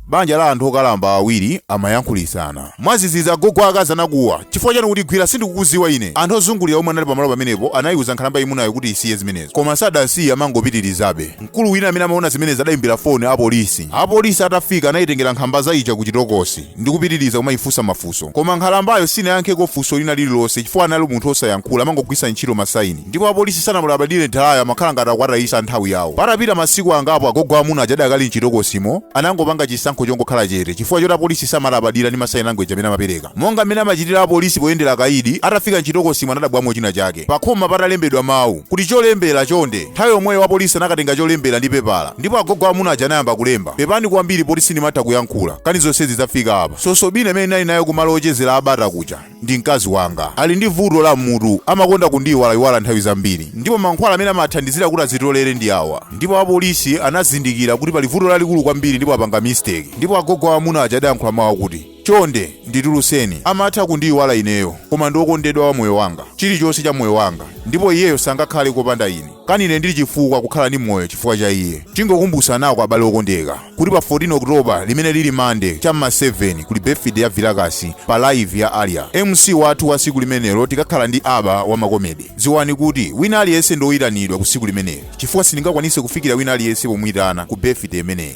Banja la anthu okalamba awiri amayankhulitsana. Mwadzidzidzi agogo a akazi anakuwa, Chifukwa chani ukutigwira? Sindikukudziwa ine! Anthu ozungulira omwe anali pamalo pamenepo anayiwuza nkhalamba yayimunayo kuti isiye zimenezo. Koma sadasiye amangopitilizabe. Mkulu wina amene amawona zimenezi adayimbira foni a polisi. A polisi atafika anayitengera nkhalamba ija ku chitokosi ndi kupitiliza kumayifunsa mafunso. Koma nkhalambayo sinayankheko funso lina lililonse chifukwa anali munthu osayankhula amangogwiritsa ntchito ma sign. Ndipo apolisi sanamulabadire Nthawiyo amakhala ngati akuwatayisa nthawi yawo. Patapita masiku angapo agogo amuna aja adakali mchitokosimo anangopanga chisankho chongokhala chete chifukwa choti apolisi samalabadira ndi ma sign language amene amapereka monga mmene amachitira apolisi poyendera akaidi, atafika mchitokosimo anadabwamo china chake pakhoma patalembedwa mawu kuti cholembera chonde nthawi yomweyo wapolisi anakatenga cholembera ndi pepala ndipo agogo amuna aja anayamba kulemba pepani kwambiri poti sindimatha kuyankhula nkhani zonsezi zafika apa nzosafuna amene ndinali naye kumalo ochezera a bata kuja ndi mkazi wanga ali ndi vuto la m'mutu amakonda kundiyiwalayiwala nthawi zambiri ndipo mankhwala amene amathandizira kuti azitolere ndi awa ndipo apolisi anazindikira kuti pali vuto lalikulu kwambiri ndipo apanga mistake ndipo agogo aamuna aja adayankhula mawu akuti chonde ndituluseni amatha kundiyiwala ineyo koma ndi wokondedwa wa moyo wanga chilichonse cha moyo wanga ndipo iyeyo sangakhale kopanda ine Kani ine ndiri chifukwa kukhala ndi moyo chifukwa cha iye? Tingokumbutsanako abale okondeka, kuti pa 14 October, limene liri Monday, cha m'ma 7, kuli birthday ya vilakasi pa Live ya Aria. MC wathu wa tsiku limenelo tikakhala ndi Abba wa ma comedy. Dziwani kuti wina aliyense ndi oyitanidwa ku tsiku limeneli, chifukwa sindingakwanitse kufikira wina aliyense pomuyitana ku birthday imeneyi.